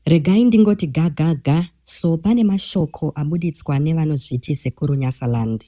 Regai ndingoti ga ga ga so pane mashoko abuditswa nevanozviti sekuru Nyasaland.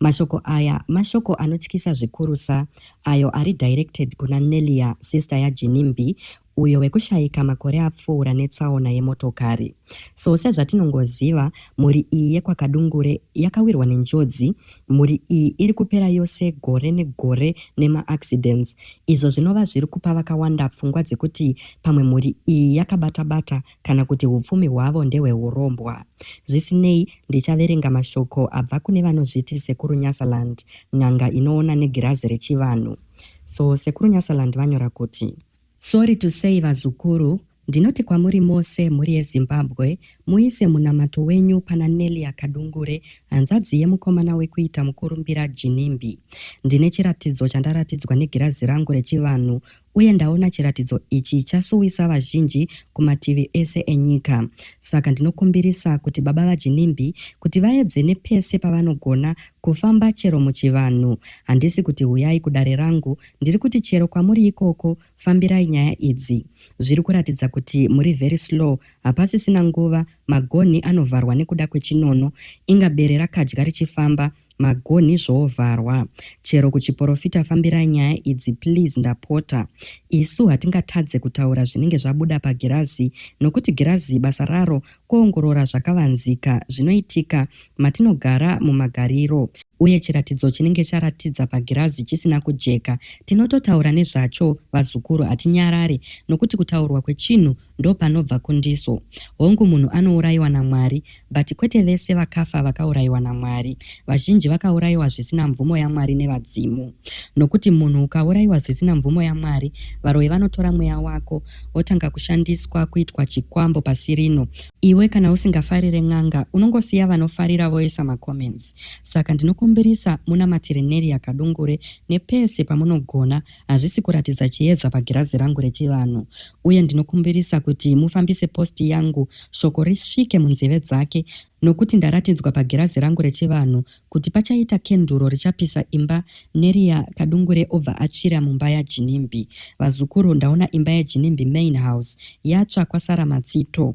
Mashoko aya mashoko anotyisa zvikurusa ayo ari directed kuna Nellia sister yaJinimbi uyo wekushaika makore apfuura netsaona yemotokari. So sezvatinongoziva mhuri iyi yekwaKadungure yakawirwa nenjodzi Mhuri iyi iri kupera yose gore negore nemaaccidents izvo zvinova zviri kupa vakawanda pfungwa dzekuti pamwe mhuri iyi yakabata-bata kana kuti hupfumi hwavo ndehwehurombwa. Zvisinei, ndichaverenga mashoko abva kune vanozviti Sekuru Nyasaland, n'anga inoona negirazi rechivanhu. So Sekuru Nyasaland vanyora kuti. Sorry to say vazukuru, ndinoti kwamuri mose mhuri yeZimbabwe muise munamato wenyu pana Nelia Kadungure hanzvadzi yemukomana wekuita mukurumbira Ginimbi. Ndine chiratidzo chandaratidzwa negirazi rangu rechivanhu uye ndaona chiratidzo ichi chasuwisa vazhinji kumativi ese enyika. Saka ndinokumbirisa kuti baba vaGinimbi kuti vaedze nepese pavanogona kufamba chero muchivanhu. Handisi kuti huyai kudare rangu Ndiri kuti chero kwamuri ikoko fambirai nyaya idzi. Zviri kuratidza kuti muri very slow hapasisina nguva magonhi anovharwa nekuda kwechinono inga bere rakadya richifamba magonhi zvoovharwa. Chero kuchiporofita fambirai nyaya idzi please ndapota. Isu hatingatadze kutaura zvinenge zvabuda pagirazi nokuti girazi basa raro Kuongorora zvakavanzika zvinoitika matinogara mumagariro uye chiratidzo chinenge charatidza pagirazi chisina kujeka tinototaura nezvacho vazukuru hatinyarare nokuti kutaurwa kwechinhu ndopanobva kundiso hongu munhu anourayiwa namwari but kwete vese vakafa vakaurayiwa namwari vazhinji vakaurayiwa zvisina mvumo yamwari nevadzimu nokuti munhu ukaurayiwa zvisina mvumo yamwari varoyi vanotora mweya wako wotanga kushandiswa kuitwa chikwambo pasi rino. Iwe kana usingafarire n'anga unongosiya vanofarira voisa macomments saka ndinokumbirisa munamatire Nelia Kadungure nepese pamunogona hazvisi kuratidza chiedza pagirazi rangu rechivanhu uye ndinokumbirisa kuti mufambise post yangu shoko risvike munzeve dzake nokuti ndaratidzwa pagirazi rangu rechivanhu Kuti pachaita kenduru richapisa imba neria kadungure obva atsvira mumba yaJinimbi. Vazukuru ndaona imba yaJinimbi main house yatsva kwasara matsito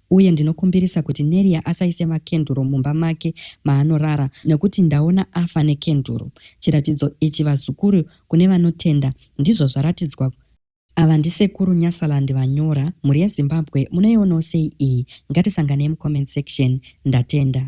uye ndinokumbirisa kuti Neria asaise makenduru mumba make maanorara nekuti ndaona afa nekenduru. Chiratidzo ichi vazukuru kune vanotenda ndizvo zvaratidzwa Ava ndisekuru Nyasaland vanyora, mhuri yeZimbabwe munoionawo sei iyi? Ngatisanganei mucomment section. Ndatenda.